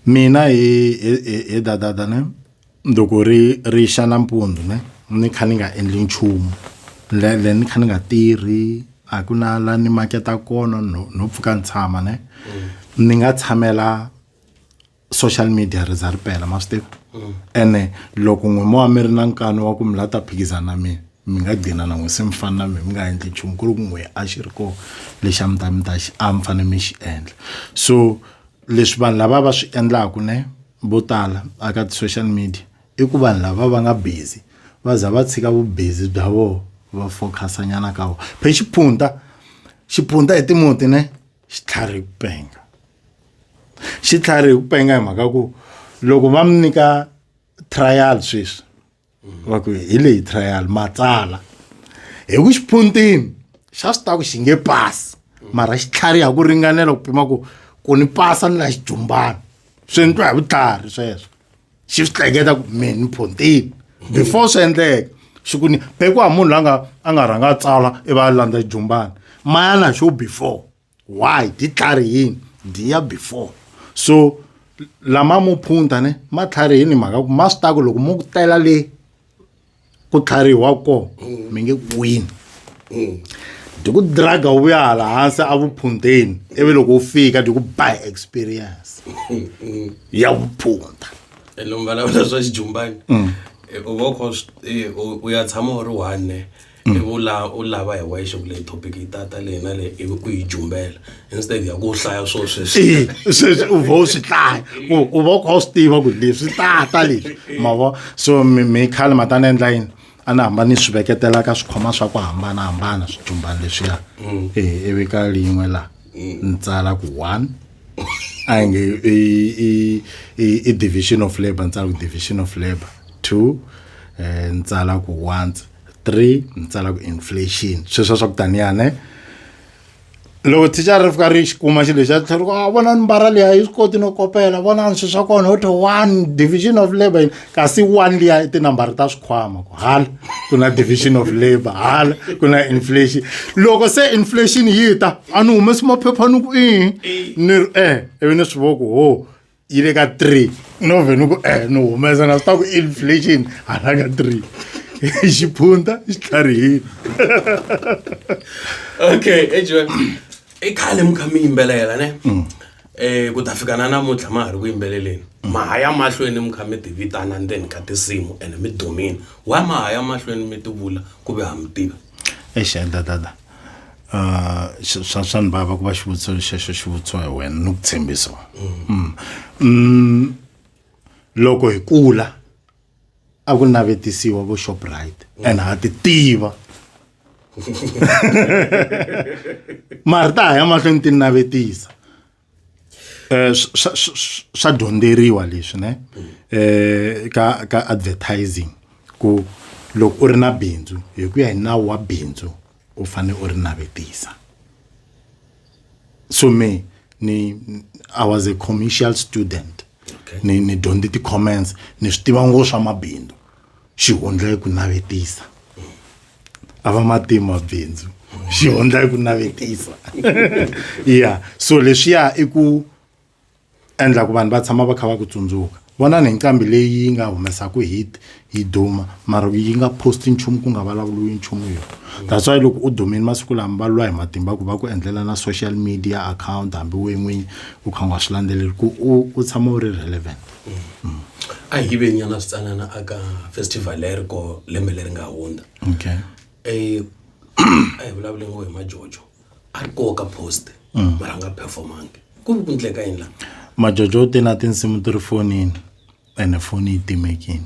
Mina he he he he dadada ne ni loko ri ri xa nampundzu ne ni kha ni nga endli nchumu le le ni kha ni nga tirhi a ku na la ni maketa kona no no pfuka ni tshama ne ni nga tshamela social media ri za ri pela ma swi tiva ene loko n'we mo wa mi ri na nkani wa ku mi la ta phikizana na mina mi nga gcina na n'we se mi fana na mina mi nga endli nchumu ku ri ku n'we a xi ri kona lexi a mi ta mi ta xi a mi fanele mi xi endla so. leswi vanhu lava va swi endlaku ne vo tala a ka ti-social media i ku vanhu lava va nga busy va za va tshika vubizi bya vona va focus-a nyana ka wona phe xiphunta xiphunta hi timuti ne xitlhari hi ku penga xitlhari hi ku penga hi mhaka ku loko va mi nyika trial sweswi va ku hi leyi trial matsala hi ku xiponteni xa swi ta ku xi nge pasi mara xi tlhariha ku ringanela ku pima ku ku ni pasa ni la xijumbana swi endliwa hi vutlhari sweswo xi swi hleketa ku mina ni phonteni before swi endleka xi ku ni pekiwa hi munhu la nga a nga rhanga a tsala i va a landza xijumbana mayana xo before why ditlhari yini ndi ya before so lama mo phunta ne matlhari yini mhaka ku ma swi taku loko mo ku tela le ku tlhariwa ko mm. mi nge wini mm. ndi ku draga wu ya hala hansi a vuphundeni ivi loko wu fika ndi ku by experience mm. ya vuphunda ene mi vulavula swa xijumbani u va u kha u ya tshama u ri one mm. ivi u la u lava hi wexe ku leyi topic yi tata leyi na leyi ivi u yi jumbela instead ya ku hlaya swo sweswi sweswi u va u swi hlaya u va u kha u swi tiva ku leswi tata leswi ma vo so mi khale ma ta ni endla yini a ni hamba ni swi veketela ka swikhoma swa ku hambanahambana swijumbani leswiya mm. e ivi ka lin'we laha mm. ni tsala ku one a yi nge i division of labor ni tsala ku division of labor two um ni tsala ku once three ni tsala ku inflation sweswi swa swa ku taniya ne loko thichara ri fika ri xi kuma xilo lexi a tlhela ri ku a ah, vona ni mbara liya yi swi koti no kopela vonani swilo swa kona ho one division of labour yini kasi one liya i tinambara ta swikhwama ku hala ku na division of labour hala ku na inflation loko se inflation yi ta a ni humesi maphepha ni ku i ni ri e ivi ni swi vo ku ho yi le ka three u no vheni ku e ni humesa na swi ta ku inflation hala ka three xiphunta xi tlharihile okay ejiwe i khale mi kha mi yimbelela ne um ku ta fika na namuntlha ma ha ri ku yimbeleleni mm. ma ha ya mahlweni mi kha mi tivitana ndzeni ka tinsimu ene mi dumini wa ma ha ya mahlweni mi tivula ku ve ha mi tiva eish enda dada uh swa swa- swa ni vava ku va xivutiso lexexo xi vutiwa hi wena ni ku tshembisa Mm. Mm, loko hi kula a ku navetisiwa vo shoprite and ha ti tiva mara ta ha ya mahlweni ti navetisa eh, swa dyondzeriwa leswi ne eh, ka ka advertising ku loko u ri na bindzu hi ku ya hi nawu wa bindzu u fanele u ri navetisa so me ni i was a commercial student ni ni dyondze ti-comments ni swi tiva ngopfu swa mabindzu xihundla i ku navetisa a va matimu mabindzu xihundla i ku navetisa ya so leswiya i ku endla ku vanhu va tshama va kha va ku tsundzuka vona ni nqambi leyi nga humesaka hit yi duma mara yi nga posti nchumu ku nga vulavuriwi nchumu yo that's why loko u dumile masiku lama va lwa hi matimba ku va ku endlela na social media account hambi we n'winyi u kha u nga swi landzeleli ku u u tshama u ri relevant a hi ve nyana switsanana aka festival leri ko lembe leri nga hundza okay eh a hi vulavule ngo hi majojo a ri koka post mm. mara nga performangi ku vi ku ndleka yini la majojo u te na tinsimu ti ri fonini ene foni yi timekini